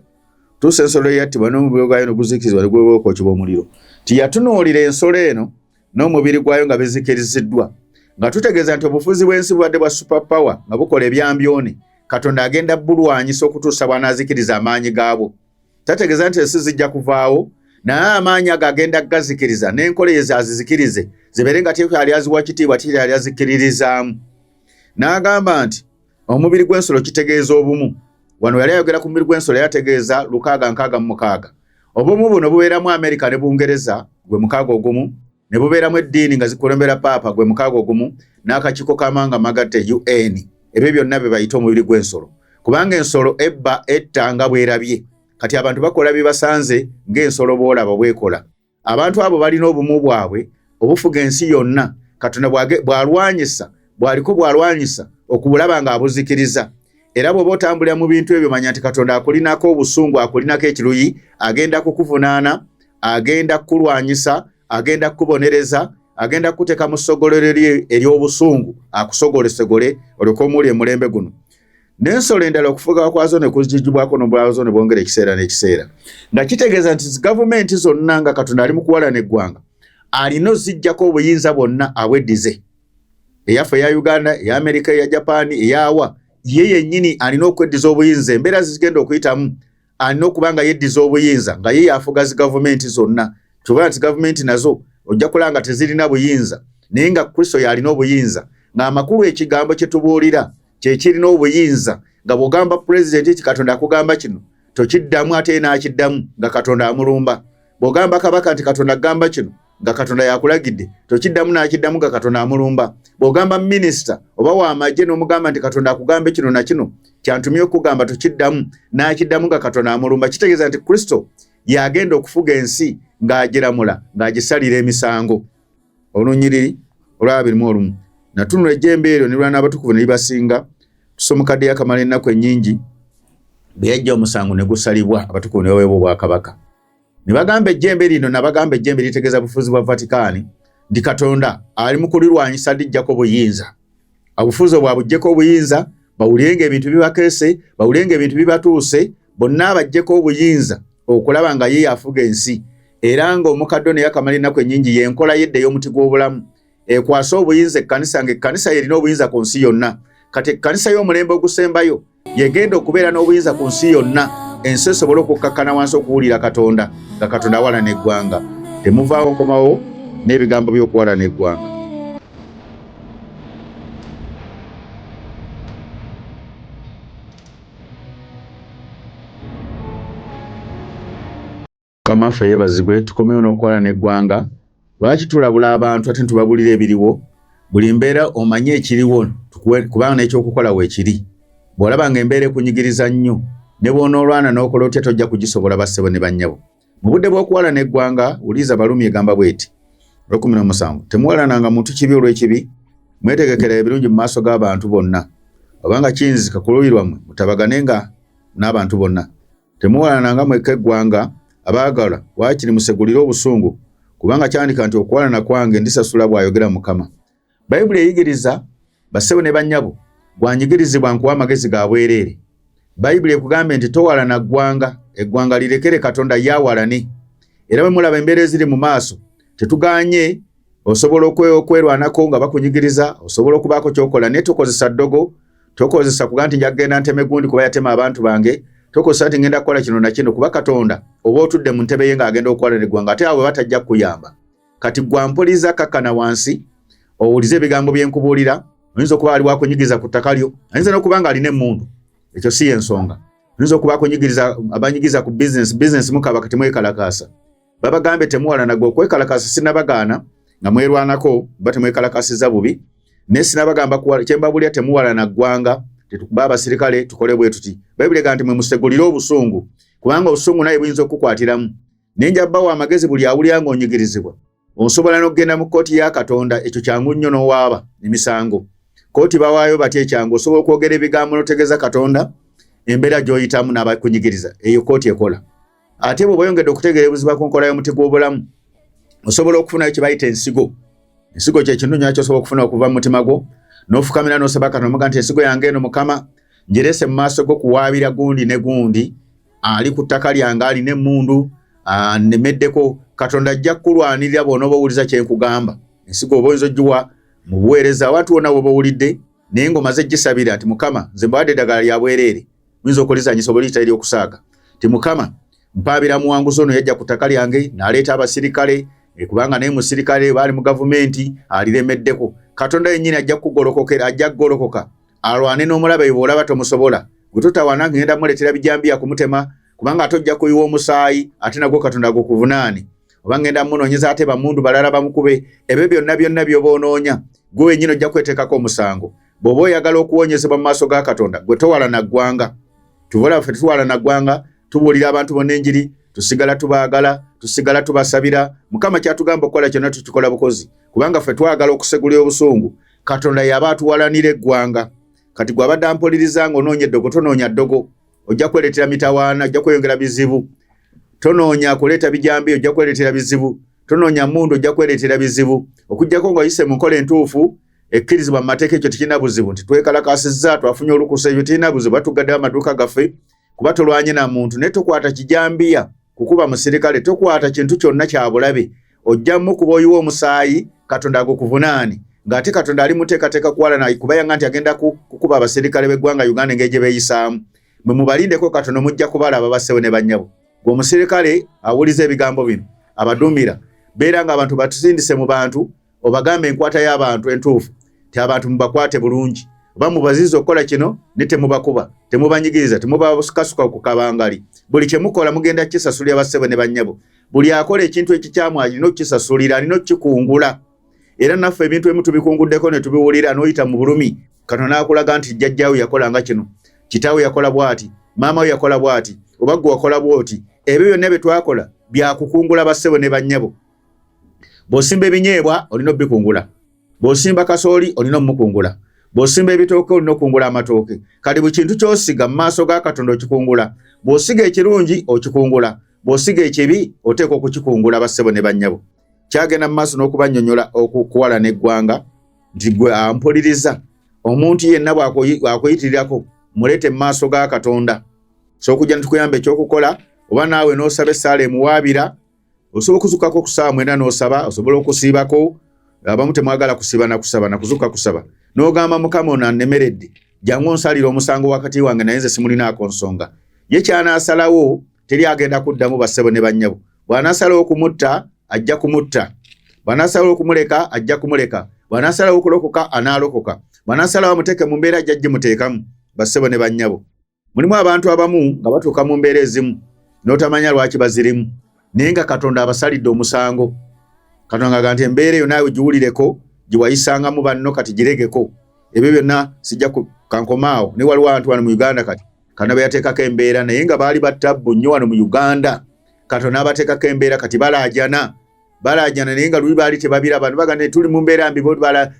tuusa ensolo eyattibwa n'omubiri gwayo ne guzikirizwa ne gwewooka okibwa omuliro tiyatunuulira ensolo eno n'omubiri gwayo nga bizikiriziddwa nga tutegeeza nti obufuzi bw'ensi bubadde bwa super power nga bukola ebyambyoni katonda agenda bulwanyisa okutuusa bwanaazikiriza amaanyi gaabwo tategeeza nti ensi zijja kuvaawo naye amaanyi ago agenda gazikiriza n'enkola ye zazizikirize zibeere nga tekyali aziwa kitiibwa tekyali azikkiririzaamu n'agamba nti Omubiri gw'ensolo kitegeeza obumu. Wano yali ayogera ku mubiri gw'ensolo yategeeza lukaaga nkaaga mu mukaaga. Obumu buno bubeeramu Amerika ne Bungereza gwe mukaaga ogumu, ne bubeeramu eddiini nga zikulembera paapa gwe mukaaga ogumu, n'akakiiko k'amawanga amagatte UN. Ebyo byonna bye bayita omubiri gw'ensolo. Kubanga ensolo ebba etta nga bw'erabye. Kati abantu bakola bye basanze ng'ensolo bw'olaba bw'ekola. abantu abo balina obumu bwabwe obufuga ensi yonna katonda bwalwanyisa bwaliko bwalwanyisa okubulaba nga abuzikiriza era bw'oba otambulira mu bintu ebyo manya nti katonda akulinako obusungu akulinako ekiruyi agenda kukuvunaana agenda kukulwanyisa agenda kukubonereza agenda kukuteeka mu ssogolero lye ery'obusungu akusogolesegole olyoka omuuli emulembe guno n'ensolo endala okufuga kwazo ne kuzijibwako n'obwazo ne bwongera ekiseera n'ekiseera nga kitegeeza nti gavumenti zonna nga katonda ali mu kuwalana eggwanga alina ozijjako obuyinza bwonna abweddize eyaffe eya uganda eya amerika eya japaani eyawa ye yennyini alina okweddiza obuyinza embeera zigenda okuyitamu alina okuba nga yeddiza obuyinza nga ye yafuga zi gavumenti zonna kyobola nti gavumenti nazo ojja kulaba nga tezirina buyinza naye nga kristo yalina obuyinza ng'amakulu ekigambo kye tubuulira kye kirina obuyinza nga bw'ogamba pulezidenti nti katonda akugamba kino tokiddamu ate ye n'akiddamu nga katonda amulumba bw'ogamba kabaka nti katonda agamba kino nga katonda yakulagidde tokiddamu nakiddamu nga katonda amulumba bw'ogamba minisita oba wamagye n'omugamba nti katonda akugambe kino na kino kyantumye okugamba tokiddamu nakiddamu nga katonda amulumba kitegeeza nti kristo yagenda okufuga ensi ng'agiramula ng'agisalira emisango olunyiriri olwaba birimu olumu natunula ejjembe eryo ne lwana abatukuvu ne libasinga tusomukadde yakamala ennaku ennyingi bwe yajja omusango ne gusalibwa abatukuvu ne baweebwa obwakabaka ne bagamba ejjembe lino nabagamba ejjembe litegeeza bufuzi bwa vatikaani nti katonda ali mu kulirwanyisa lijjako obuyinza obufuzi obwa bujjeko obuyinza bawulirenga ebintu bibakeese bawulirenga ebintu bibatuuse bonna abajjeko obuyinza okulaba nga ye yafuga ensi era nga omukaddo naye akamala ennaku ennyingi yenkola yedda ey'omuti gw'obulamu ekwasa obuyinza ekkanisa nga ekkanisa yerina obuyinza ku nsi yonna kati ekkanisa y'omulembe ogusembayo yegenda okubeera n'obuyinza ku nsi yonna ensi esobole okukkakkana wansi okuwulira katonda nga katonda awalana eggwanga temuvaawo nkomawo n'ebigambo by'okuwalana eggwanga Mukama ffe yebazibwe tukomewo n'okukola n'eggwanga lwaki tulabula abantu ate ntubabulira ebiriwo buli mbeera omanye ekiriwo kubanga n'ekyokukola weekiri bw'olaba nga embeera ekunyigiriza nnyo ne bw'onoolwana n'okola otya tojja kugisobola bassebo ne bannyabo mu budde bw'okuwala n'eggwanga wuliiza balumi egamba bw'eti olwekumi n'omusanvu temuwalananga muntu kibi olw'ekibi mwetegekera ebirungi mu maaso g'abantu bonna obanga kiyinzika ku luuyi lwammwe mutabagane nga n'abantu bonna Temuwalana nga mwekka eggwanga, abaagalwa, waakiri musegulire obusungu, kubanga kyandika nti okuwalana kwange ndisasula, bw'ayogera Mukama. Bayibuli eyigiriza bassebo ne bannyabo gwanyigirizibwa nkuwa amagezi ga bwereere. Bayibuli ekugambye nti towalana ggwanga, eggwanga lirekere Katonda ye awalane. Era bwe mulaba embeera eziri mu maaso, tetuganye osobola okwerwanako nga bakunyigiriza, osobola okubaako ky'okola, naye tokozesa ddogo. tokozesa kuga nti njagenda nteme gundi kuba yatema abantu bange tokozesa nti ngenda kukola kino nakino kuba katonda oba otudde mu ntebe ye ng'agenda okukola ne ggwanga ate awe batajja kukuyamba kati gwampuliza kakkana wansi owulize ebigambo bye nkubuulira oyinza okuba ali wakunyigiza ku ttaka lyo ayinza n'okuba nga alina emmundu ekyo si y'ensonga oyinza okuba akunyigiriza abanyigiza ku bizinesi bizinesi mukaba kati mwekalakaasa babagambye temuwalana gwe okwekalakasa sinabagaana nga mwerwanako ba temwekalakasiza bubi naye sinabagamba kuwala kyembabulya temuwalana ggwanga tetukuba abasirikale tukole bwe tuti bayibuli ega nti mwe musegulire obusungu kubanga obusungu naye buyinza okukukwatiramu naye nja bawa amagezi buli awulira nga onyigirizibwa osobola n'okugenda mu kkooti ya katonda ekyo kyangu nnyo n'owaaba emisango kkooti bawaayo batya ekyangu osobola okwogera ebigambo n'otegeeza katonda embeera gy'oyitamu n'abakunyigiriza eyo kkooti ekola ate bwe bayongedde okutegeera ebuziba ku nkola y'omuti gw'obulamu osobola okufunayo kye bayita ensigo ensigo kye kintu nyo kyosobola okufuna okuva mu mutima gwo n'ofukamira n'osaba katonda omuga nti ensigo yange eno mukama njerese mu maaso go kuwaabira gundi ne gundi ali ku ttaka lyange alina emmundu anemeddeko katonda ajja kukulwanirira bwona oba owuliza kye nkugamba ensigo oba oyinza ogiwa mu buweereza abantu wonna woba owulidde naye ng'omaze gisabira nti mukama nze mbawadde eddagala lya bwereere Muyinza okulizanyisa oba liyita eryokusaaga ti mukama mpaabira muwanguzi ono yajja ku ttaka lyange n'aleeta abasirikale eh, kubanga naye musirikale baali mu gavumenti aliremeddeko katonda yennyini ajja kukugolokokera ajja kugolokoka alwane n'omulaba ebyo bw'olaba tomusobola gwe totawana ngenda muleetera bijambiya kumutema kubanga ate ojja kuyiwa omusaayi ate nagwo katonda gukuvunaani oba ngenda munoonyeza ate bamundu balala bamukube ebyo byonna byonna by'oba onoonya gwe wennyini ojja kweteekako omusango bw'oba oyagala okuwonyezebwa mu maaso ga katonda gwe towala na ggwanga tubola ffe tuwala na ggwanga tubuulira abantu bonna enjiri tusigala tubaagala tusigala tubasabira mukama kyatugamba okukola kyonna tukikola bukozi kubanga ffe twagala okusegula obusungu katonda yaba atuwalanira eggwanga kati gwe abadde ampuliriza nga onoonya eddogo tonoonya ddogo ojja kwereetera mitawaana ojja kweyongera bizibu tonoonya kuleeta bijambi ojja kwereetera bizibu tonoonya mundu ojja kwereetera bizibu okugyako nga oyise mu nkola entuufu ekkirizibwa mu mateeka ekyo tekirina buzibu nti twekalakasizza twafunye olukusa ekyo tekirina buzibu batugaddewo amaduuka gaffe kuba tolwanye na muntu naye tokwata kijambiya kukuba musirikale tokwata kintu kyonna kyabulabe ojja mukuba oyiwa omusaayi katonda agukuvunaani ng'ate katonda ali muteekateeka kuwalana kubayanga nti agenda kukuba abaserikale b'eggwanga uganda engeri gye beeyisaamu mwe mubalindeko katono mujja kubalaba basewo ne bannyabo gweomusirikale awuliza ebigambo bino abadumira beera nga abantu batusindise mu bantu obagambe enkwata y'abantu entuufu ti abantu mubakwate bulungi oba mubaziza okukola kino ne temubakuba temubanyigiriza temubasukasuka ku kabangali buli kyemukola mugenda kukisasulira bassebo ne bannyabo buli akola ekintu ekikyamu alina okukisasulira alina okukikungula era naffe ebintu emu tubikunguddeko ne tubiwulira n'oyita mu bulumi kano n'akulaga nti jjajjaawe yakola nga kino kitaawe yakola bw'ati maama we yakola bw'ati oba gwe wakola bw'oti ebyo byonna bye twakola byakukungula bassebo ne bannyabo Bw'osimba ebinyeebwa olina obikungula, bw'osimba kasooli olina omukungula, bw'osimba ebitooke olina okungula amatooke. Kati buli kintu ky'osiga mu maaso ga Katonda okikungula. Bw'osiga ekirungi okikungula, bw'osiga ekibi oteekwa okukikungula bassebo ne bannyabo. Kyagenda mu maaso n'okubannyonnyola okuwala n'eggwanga nti gwe ampuliriza omuntu yenna bw'akuyitirirako muleete mu maaso ga Katonda. So okujja ne tukuyamba ekyokukola oba naawe n'osaba essaala emuwaabira osobola okuzukako okusaawa mwena nosaba osobola okusiibako abamu temwagala kusiba nakusaba nakuzuka kusaba nogamba mukama ono anemeredde jangu onsalira omusango wakati wange naye nze simulinaako nsonga ye kyanasalawo teri agenda kuddamu bassebo ne bannyabo bwanasalawo okumutta ajja kumutta bwanasalawo okumuleka ajja kumuleka bwanasalawo okulokoka anaalokoka bwanasalawo amuteeke mu mbeera jajji muteekamu bassebo ne bannyabo Mulimu abantu abamu nga batuuka mu mbeera ezimu n'otamanya lwaki bazirimu naye nga Katonda abasalidde omusango. Katonda ng'aga nti embeera eyo naawe giwulireko gyewayisangamu banno kati giregeko ebyo byonna sijja kankomaawo naye waliwo abantu wano mu Uganda kati Katonda be yateekako embeera naye nga baali battabbu nnyo wano mu Uganda Katonda n'abateekako embeera kati balaajana balaajana naye nga luli baali tebabiraba ne bagamba tuli mu mbeera mbi bo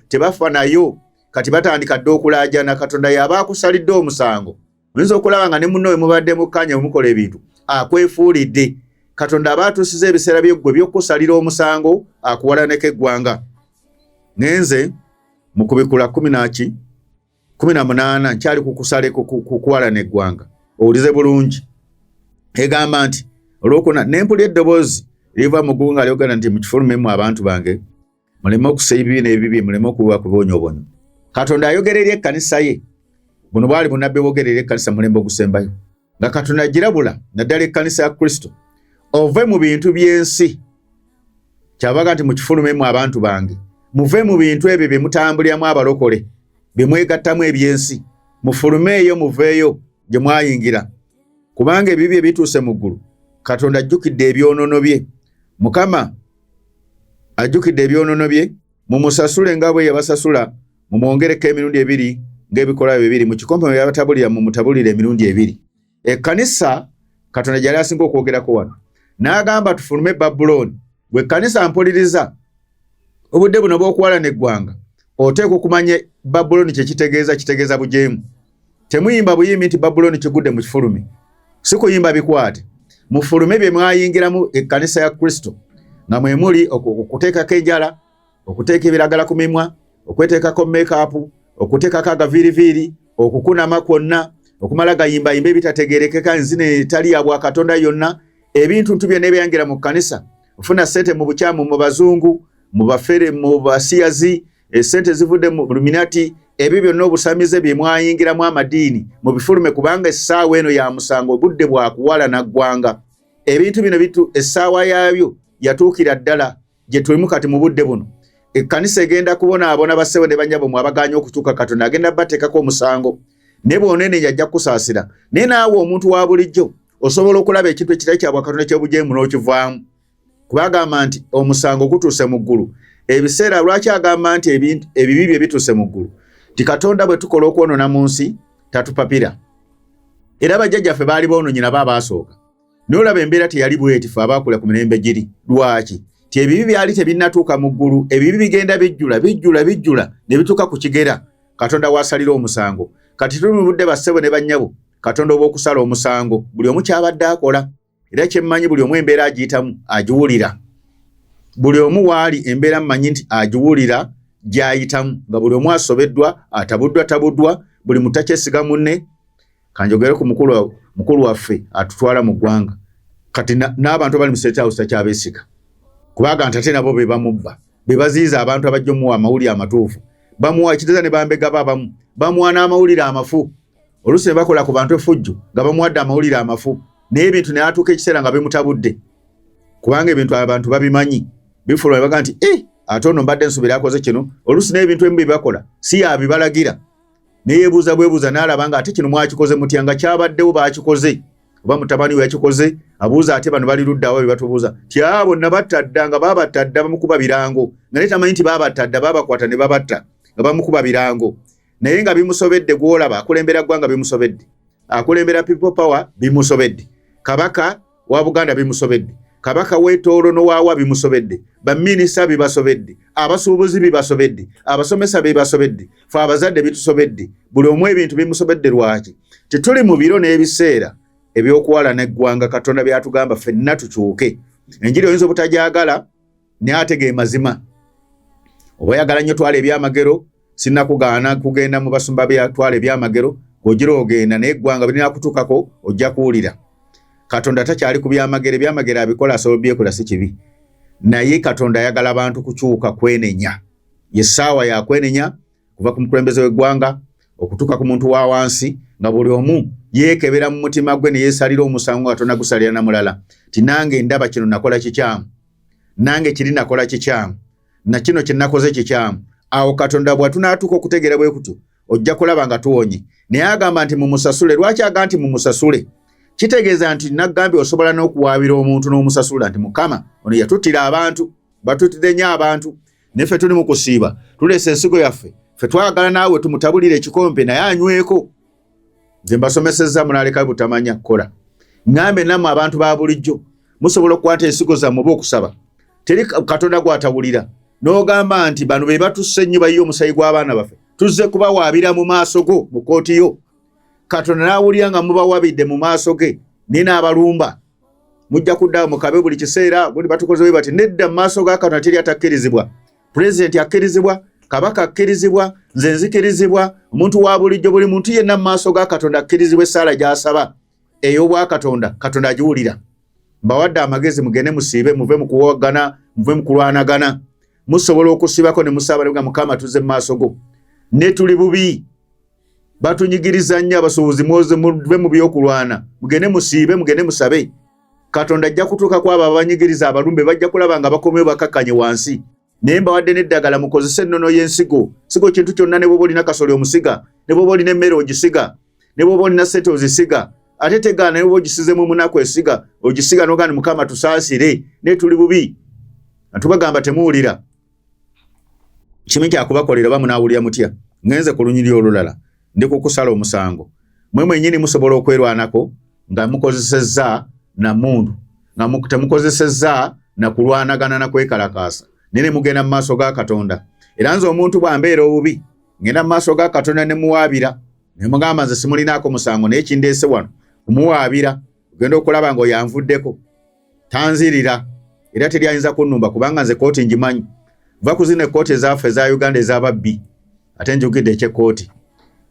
tebafanayo kati batandika dda okulaajana katonda yaba akusalidde omusango oyinza okulaba nga ne munno we mubadde mukkanya wemukola ebintu akwefuulidde katonda aba atuusiza ebiseera byeggwe by'okukusalira omusango akuwalaneko eggwanga naye nze mu kubikula kumi naki kumi na munaana nkyali kukusale kukuwalana eggwanga owulize bulungi egamba nti olwokuna nempuli eddoboozi liva mu gunga lyogenda nti mukifulumemu abantu bange muleme okusa ebibi n'ebibi muleme okuwa kubonyobonyo katonda ayogera eri ekkanisa ye buno bwali bunabbi bwogera eri ekkanisa mulembe ogusembayo nga katonda agirabula naddala ekkanisa ya kristo ove mu bintu by'ensi kyabaga nti mukifulumemu abantu bange muve mu bintu ebyo bye mutambuliramu abalokole bye mwegattamu eby'ensi mufulumeeyo muveeyo gye mwayingira kubanga ebibi ebituuse mu ggulu katonda ajjukidde ebyonoono bye mukama ajjukidde ebyonoono bye mumusasule nga bwe yabasasula mumwongereko emirundi ebiri ng'ebikolwa bye biri mu kikompe mwe yabatabulira mumutabulire emirundi ebiri ekkanisa katonda gyali asinga okwogerako wano n'agamba tufulume babulooni gwe kkanisa mpuliriza obudde buno bw'okuwalana eggwanga oteekwa okumanya babulooni kye kitegeeza kitegeeza bujeemu Temuyimba buyimbi nti Babulooni kigudde mu kifulumi, si kuyimba bikwate. Mufulume bye mwayingiramu ekkanisa ya Kristo, nga mwe muli okuteekako enjala, okuteeka ebiragala ku mimwa, okweteekako meekaapu, okuteekako agaviiriviiri, okukunama kwonna, okumala gayimbayimba ebitategerekeka enzina etali ya bwakatonda yonna, ebintu ntu byonna ebyangira mu kkanisa, ofuna ssente mu bukyamu, mu bazungu, mu bafere, mu basiyazi, esente zivudde mu luminati ebyo byonna obusamize bye mwayingiramu amadiini mu bifulume kubanga essaawa eno ya musango obudde bwa kuwala na ggwanga ebintu bino bitu essaawa yaabyo yatuukira ddala gye tulimu kati mu budde buno ekkanisa egenda kubonaabona bassebo ne banyabo mu abagaanya okutuuka katonda agenda bateekako omusango ne bwonene yajja kukusaasira naye naawe omuntu wa bulijjo osobola okulaba ekintu ekitali kyabwakatonda ky'obujeemu n'okivaamu kuba agamba nti omusango gutuuse mu ggulu ebiseera lwaki agamba nti ebibi bye bituuse mu ggulu nti katonda bwe tukola okwonona mu nsi tatupapira era bajjajjaffe baali boononyi nabo abaasooka naye olaba embeera teyali bwetifu abaakula ku mirembe giri lwaki ti ebibi byali tebinnatuuka mu ggulu ebibi bigenda bijjula bijjula bijjula ne bituuka ku kigera katonda waasalira omusango kati tuli mu budde bassebo ne bannyabo katonda obw'okusala omusango buli omu kyabadde akola era kyemmanyi buli omu embeera agiyitamu agiwulira buli omu waali embeera mmanyi nti agiwulira gyayitamu nga buli omu asobeddwa atabuddwa tabuddwa buli mutakyesiga munne kanjogere ku mukulu waffe atutwala mu ggwanga kati n'abantu abali mu state house takyabesiga kubaga nti ate nabo be bamubba be baziyiza abantu abajja omuwa amawulire amatuufu bamuwa ekiteeza ne bambegaba abamu bamuwa n'amawulire amafu oluusi ne bakola ku bantu efujjo nga bamuwadde amawulire amafu naye ebintu ne atuuka ekiseera nga bimutabudde kubanga ebintu abantu babimanyi bifuluma ne baga nti e ate ono mbadde nsubira akoze kino oluusi naye ebintu ebimu bye bakola si yabibalagira neyebuuza bwebuuza nalaba nga ate kino mwakikoze mutya nga kyabaddewo bakikoze oba mutabani we yakikoze abuuza ate bano bali luddawa bye batubuuza ti a bonna batta dda nga babatta dda bamukuba birango nga naye tamanyi nti babatta dda babakwata ne babatta nga bamukuba birango naye nga bimusobedde gwolaba akulembera ggwanga bimusobedde akulembera people power bimusobedde kabaka wa buganda bimusobedde kabaka wetoolo nowaawa bimusobedde baminisita bibasobedde abasuubuzi bibasobedde abasomesa bibasobedde fe abazadde bitusobedde buli omu ebintu bimusobedde lwaki tetuli mu biro n'ebiseera ebyokuwalana eggwanga katonda byatugamba fenna tukyuke enjiri oyinza obutagyagala naye ate ge mazima oba oyagala nnyo twala ebyamagero sinakugaana kugenda mu basumba byatwala ebyamagero ogira ogenda naye eggwanga birina kutuukako ojja kuwulira katonda takyali ku byamagero ebyamagero abikola asobola obyekola si kibi naye katonda ayagala abantu kukyuka kwenenya ye ssaawa yakwenenya kuva ku mukulembeze w'eggwanga okutuuka ku muntu wa wansi nga buli omu yeekebera mu mutima gwe ne yeesalira omusango nga tonagusalira na mulala ti nange ndaba kino nakola kikyamu nange kiri nakola kikyamu na kino kye nakoze kikyamu awo katonda bwatunaatuuka okutegeera bwe kutyo ojja kulaba nga tuwonye naye agamba nti mumusasule lwaki aga nti mumusasule kitegeeza nti nagambye osobola n'okuwaabira omuntu n'omusasula nti mukama ono yatuttira abantu batutidde nnyo abantu neffe tuli mu kusiiba tuleesa ensigo yaffe ffe twagala naawe tumutabulire ekikompe naye anyweko nze mbasomesezza munaleka butamanya kukola ngambe namwe abantu ba bulijjo musobola okukwata ensigo zammwe oba okusaba teri katonda gwatawulira n'ogamba nti bano be batussa ennyo bayiye omusayi gw'abaana baffe tuzze kubawaabira mu maaso go mu kkooti yo katonda n'awulira nga mubawabidde mu maaso ge naye n'abalumba mujja kuddawo mukabe buli kiseera gundi batukoze bwe bati nedda mu maaso ga katonda teri atakkirizibwa pulezidenti akkirizibwa kabaka akkirizibwa nze nzikirizibwa omuntu wa bulijjo buli muntu yenna mu maaso ga katonda akkirizibwa essaala gy'asaba ey'obwakatonda katonda agiwulira mbawadde amagezi mugende musiibe muve mu kuwagana muve mu kulwanagana musobola okusibako ne musaaba nebga mukama tuze mu maaso go ne tuli bubi batunyigiriza nnyo abasuubuzi muve mu by'okulwana mugende musiibe mugende musabe katonda ajja kutuuka ku abo abanyigiriza abalumbe bajja kulaba nga bakomewo bakakkanye wansi naye mbawadde n'eddagala mukozese ennono y'ensigo sigo kintu kyonna ne bwoba olina kasoli omusiga ne bwoba olina emmere ogisiga ne bwoba olina sente ozisiga ate tegaana ne bwoba ogisizemu omunaku esiga ogisiga nogandi mukama tusaasire naye tuli bubi atubagamba temuwulira kimu kyakubakolera oba munaawulira mutya ngenze ku lunyiri olulala ndi kukusala omusango mwe mwenyini musobola okwerwanako nga mukozesezza na mundu nga temukozesezza na kulwanagana na kwekalakaasa naye ne mugenda mu maaso ga katonda era nze omuntu bwambeera obubi ngenda mu maaso ga katonda ne muwaabira ne mugamba nze simulinaako musango naye kindeese wano kumuwaabira ogenda okulaba nga oyanvuddeko tanzirira era teri ayinza kunnumba kubanga nze kooti ngimanyi va ku zino ekkooti ezaffe eza uganda ezababbi ate njukidde ekyekkooti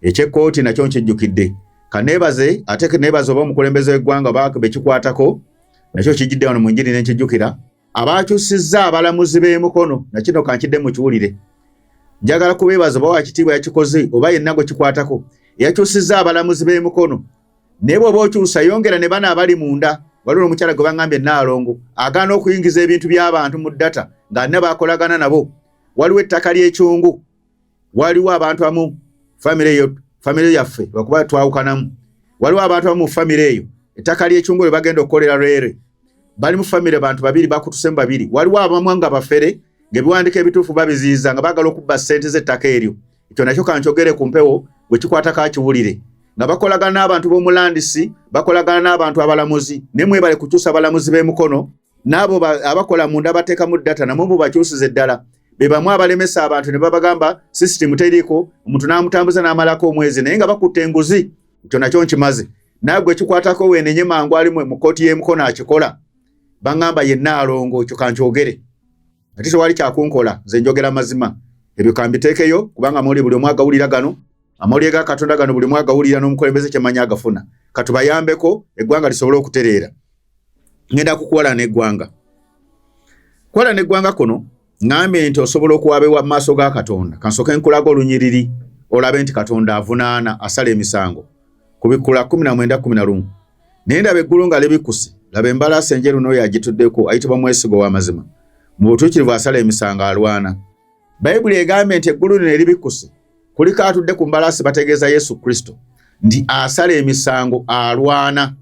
ekyekkooti nakyo nkijjukidde kaneebaze ate neebaze oba omukulembeze w'eggwanga oba bekikwatako nakyo kijjidde wano mu njiri nenkijjukira abaakyusizza abalamuzi b'emukono nakino kankidde mukiwulire njagala kubeebaza oba wakitiibwa yakikoze oba yenna gwe kikwatako eyakyusizza abalamuzi b'emukono naye bwoba okyusa yongera ne bana abali munda waliwo omukyala gwe baŋambye naalongo agaana okuyingiza ebintu by'abantu mu data nga alina bakolagana nabo waliwo ettaka ly'ekyungu waliwo abantu amu famire eyo famire yaffe lwakuba twawukanamu waliwo abantu amu mu famire eyo ettaka ly'ekyungu lwe bagenda okukolera lwere bali mu famire bantu babiri bakutusemu babiri waliwo abamu nga bafere ng'ebiwandiiko ebituufu babiziyiza nga baagala okubba ssente z'ettaka eryo ekyo nakyo kankyogere ku mpewo gwe kikwata kakiwulire nga bakolagana n'abantu b'omulandisi bakolagana n'abantu abalamuzi naye mwebale kukyusa abalamuzi b'emukono n'abo abakola munda bateekamu data namwe mubakyusize ddala be bamu abalemesa abantu ne babagamba sisitimu teriiko omuntu n'amutambuza n'amalako omwezi naye nga bakutte enguzi ekyo nakyo nkimaze naagwe ekikwatako weenenye mangu ali mu kkooti y'emukono akikola baŋŋamba yenna alongo ekyo kankyogere ati tewali kyakunkola nze njogera mazima ebyo kambiteekeyo kubanga muli buli omu agawulira gano amawulire ga katonda gano buli omu agawulira n'omukulembeze kyemanyi agafuna katubayambeko eggwanga lisobole okutereera ngenda kukuwalana eggwanga kuwalana eggwanga kuno ngambye nti osobola okuwabewa mu maaso ga katonda kansooke nkulaga olunyiriri olabe nti katonda avunaana asala emisango ku bikkula 1911 naye ndaba eggulu nga libikuse laba embalaasi enjeru n'oyo agituddeko ayitibwa mwesigo w'amazima mu butuukirivu asala emisango alwana bayibuli egambye nti eggulu lino eribikuse kuliko atudde ku mbalaasi bategeeza yesu kristo nti asala emisango alwana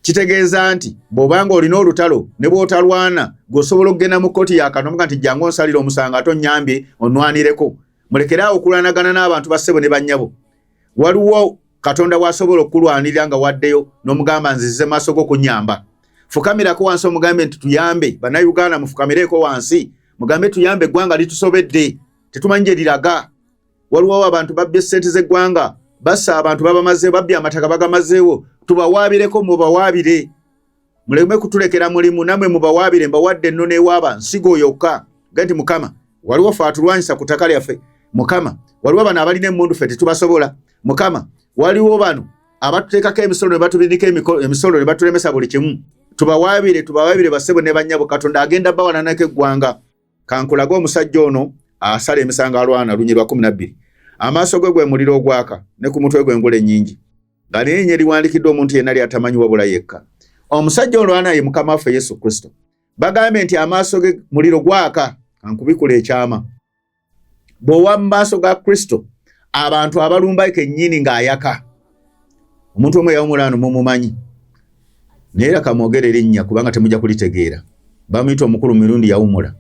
kitegeeza nti bw'obanga olina olutalo ne bw'otalwana gweosobola okugenda mu kkooti yakanomuga nti jangu onsalira omusango ate onnyambye onnwanireko mulekere awo okulwanagana n'abantu bassebo ne bannyabo waliwo katonda wasobola okukulwanirira nga waddeyo nomugamba nzize maaso go kunyamba fukamirako wansi omugambe nti tuyambe banauganda mufukamireeko wansi mugambe tuyambe eggwanga litusobedde tetumanyi gye liraga waliwo abantu babbye sente zeggwanga basa abantu babamazeewo babbye amataka bagamazeewo tubawaabireko mubawaabire muleme kutulekera mulimu namwe mubawaabire mbawadde ennono ewaaba nsigo yokka gati mukama waliwo fe atulwanyisa ku ttaka lyaffe mukama waliwo bano abalina emmundu fe tetubasobola mukama waliwo bano abatuteekako emisolo ne batubindika emisolo ne batulemesa buli kimu tubawaabire tubawaabire basebo ne bannyabo katonda agenda bawalanako eggwanga kankulage omusajja ono asala emisango alwana lunyi lwa kumi nabbiri amaaso gwe gwe muliro ogwaka ne ku mutwe gwe ngula ennyingi nga lyenye liwandikiddwa omuntu yenna lyatamanyi wabula yekka omusajja olwana ye mukama waffe yesu kristo bagambye nti amaaso ge muliro gwaka ankubikula ekyama bwowa mu maaso ga kristo abantu abalumba kennyini ng'ayaka omuntu omu eyawumulaano mumumanyi naye era kamwogere erinnya kubanga temujja kulitegeera bamuyita omukulu mu mirundi yawumula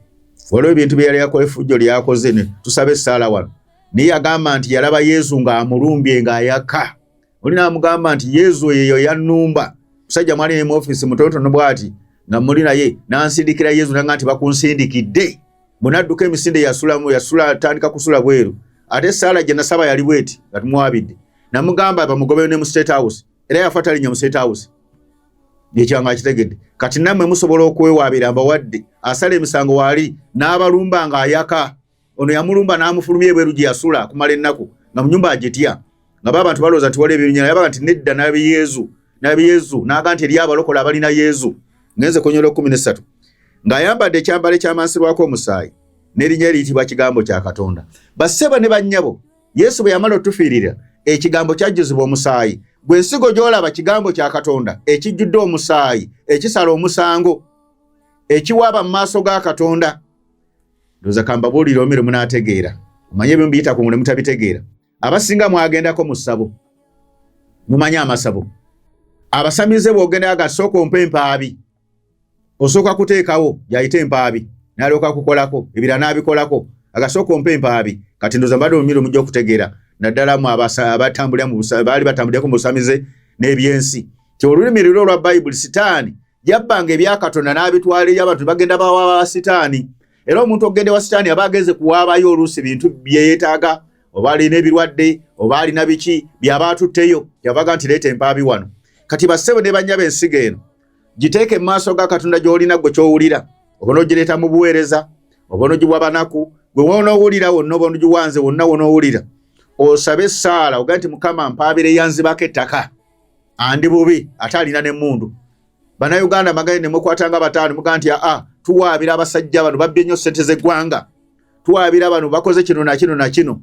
waliwo ebintu bye yali yakola efujjo lyakoze ne tusaba essaala wano naye yagamba nti yalaba yezu ng'amulumbye ng'ayaka oli n'amugamba nti yezu eyo yannumba musajja mwali ne mu ofiisi mutonotono bw'ati nga muli naye n'ansindikira yezu nanga nti bakunsindikidde bwenadduka emisinde yasulamu yasula atandika kusula bweru ate esaala gye nasaba yali bweti nga tumwabidde namugamba bamugobeyo ne mu state house era yafa talinya mu state house ekyanga akitegedde kati nammwe musobola okwewaabira mbawadde asala emisango waali n'abalumba ng'ayaka ono yamulumba n'amufulumya ebweru gye yasula akumala ennaku nga mu nyumba agitya nga ba bantu balowooza nti waliwo ebinyala yabaga nti nedda nabi yezu nabi yezu n'aga nti eriyo abalokola abalina yezu ngenze konyola ekkumi n'essatu ng'ayambadde ekyambalo ekyamansirwako omusaayi n'erinnya eriyitibwa kigambo kya katonda bassebo ne bannyabo yesu bwe yamala otufiirira ekigambo kyajjuzibwa omusaayi gwe nsigo gy'olaba kigambo kya katonda ekijjudde omusaayi ekisala omusango ekiwaaba mu maaso ga katonda ndoza kambabuulire omere munaategeera omanye ebyo mbiyita ku mule mutabitegeera abasinga mwagendako mu ssabo mumanye amasabo abasamize bwogenda aga sooka ompa empaabi osooka kuteekawo yayita empaabi nalyoka kukolako ebira n'abikolako agasooka ompa empaabi kati ndoza mbadde omumiro mujja okutegeera naddala mu abatambulira baali batambulirako mu busamize n'ebyensi ti olulimi liro olwa bayibuli sitaani yabbanga ebya katonda n'abitwala eyo abantu bagenda bawaaba ba sitaani era omuntu okugenda ewa sitaani aba agenze kuwaabayo oluusi bintu byeyetaaga oba alina ebirwadde oba alina biki byaba atutteyo yavaga nti leeta empaabi wano kati bassebo ne bannya b'ensiga eno giteeke mu maaso ga katonda gy'olina gwe ky'owulira oba n'ogireeta mu buweereza oba n'ogiwa banaku gwe wonoowulira wonna oba n'ogiwanze wonna wonoowulira osabe essaala oga nti mukama mpaabire yanzibako ettaka andi bubi ate alina nemundu banauganda maganye nemukwatanga batano muga nti aa tuwaabira abasajja bano babbye nnyo sente zegwanga tuwaabira bano bakoze kino nakino nakino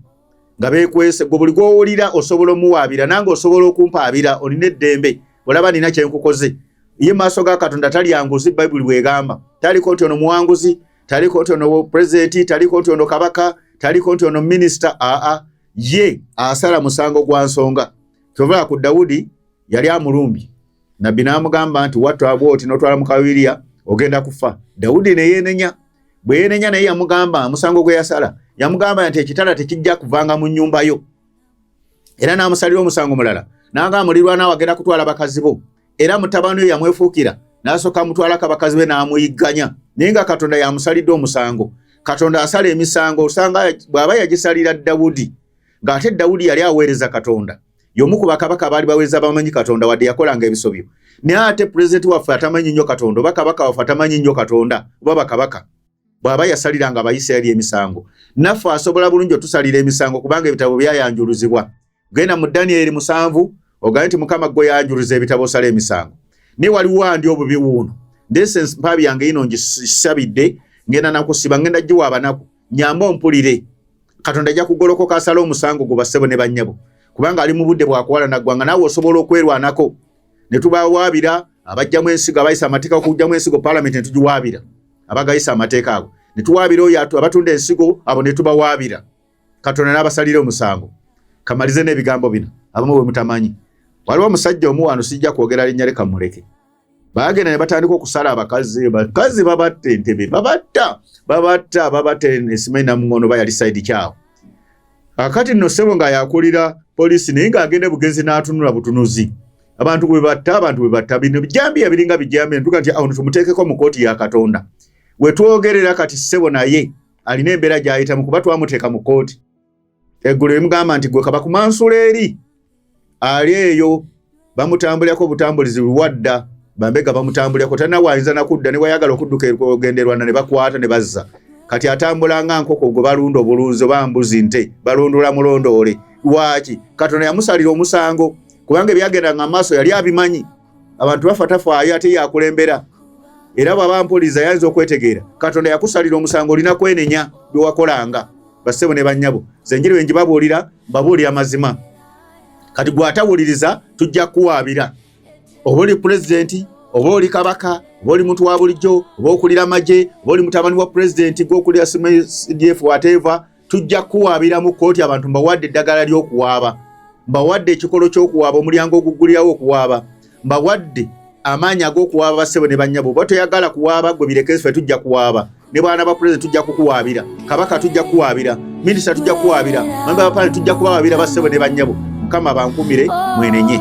nga bekwese gwe buli gwowulira osobola omuwaabira nange osobola okumpaabira olina eddembe olaba nina kyenkukoze ye maaso ga katonda talyanguzi bayibuli bwegamba taliko nti ono muwanguzi taliko nti ono pulezidenti taliko nti ono kabaka taliko nti ono minisita aa ye asala musango gwa nsonga kyova ku dawudi yali amulumbye nabbi n'amugamba nti watwagwa oti notwala mukawiriya ogenda kufa dawudi neyenenya bweyenenya naye yamugamba omusango gwe yasala yamugamba nti ekitala tekijja kuvanga mu nyumba yo era n'amusalira omusango mulala nanga mulirwana wagenda kutwala bakazi bo era mutabani yo yamwefuukira n'asooka mutwalako abakazi be n'amuyigganya naye nga katonda yamusalidde omusango katonda asala emisango osanga bw'aba yagisalira dawudi ng'ate dawudi yali aweereza katonda yomu ku bakabaka baali baweereza bamanyi katonda wadde yakolanga ebisobyo naye ate pulezidenti waffe atamanyi nnyo katonda oba kabaka waffe atamanyi nnyo katonda oba bakabaka bw'aba yasaliranga abayisirayiri emisango naffe asobola bulungi otusalira emisango kubanga ebitabo byayanjuluzibwa genda mu danyeri musanvu ogambe nti mukama gwe yanjuluza ebitabo osala emisango naye waliwo andi obubi wuuno ndese mpaabi yange yino ngisabidde ngenda nakusiba ngenda giwa abanaku nyamba ompulire katonda ajja kugolokoka asala omusango gwo bassebo ne bannyabo kubanga ali mu budde bwakuwala naggwanga naawe osobola okwerwanako ne tubawaabira abajjamu ensigo abayisa amateeka okujjamu ensigo palamenti ne tugiwaabira abagayisa amateeka ago ne tuwaabira oyo abatunda ensigo abo ne tubawaabira katonda n'abasalire omusango kamalize n'ebigambo bino abamu bwe mutamanyi waliwo omusajja omu wano sijja kwogera linnya leka muleke baagenda ne batandika okusala abakazi bakazi babatta entebe babatta babatta babatta esima enamuŋono ba yali saidi kyawo akati nno ssebo nga yakulira poliisi naye ng'agenda bugenzi n'atunula butunuzi abantu bwe batta abantu bwe batta bino bijambiya biringa bijambiya ntuga nti awo tumuteekeko mu kooti ya katonda we twogerera kati ssebo naye alina embeera gy'ayitamu kuba twamuteeka mu kooti eggulu limugamba nti gwe kabakumansula eri ali eyo bamutambulirako obutambulizi luwadda bambega bamutambulirako talina waayinza nakudda ne wayagala okudduka okugenda erwanda ne bakwata ne bazza kati atambula nga nkoko gwe balunda obulunzi oba mbuzi nte balundula mulondoole lwaki katonda yamusalira omusango kubanga ebyagendanga mu maaso yali abimanyi abantu bafa tafaayo ate yakulembera era bwaba mpuliza yayinza okwetegeera katonda yakusalira omusango olina kwenenya byewakolanga basebo ne banyabo zenjiri wenji babuulira babuulira mazima kati gwatawuliriza tujja kuwaabira oba oli pulezidenti oba oli kabaka oba oli muntu wa bulijjo oba okulira amagye oba oli mutabani wa pulezidenti gwokulira cdf wateva tujja kuwaabira mu kkooti abantu mbawadde eddagala ly'okuwaaba mbawadde ekikolo ky'okuwaaba omulyango oguggulirawo okuwaaba mbawadde amaanyi ag'okuwaaba bassebo ne bannyabo oba toyagala kuwaaba gwe birekefe tujja kuwaaba ne baana ba pulezidenti tujja kukuwaabira kabaka tujja kuwaabira minisita tujja kuwaabira mamba bapale tujja kubawaabira bassebo ne bannyabo mukama bankumire mwenenye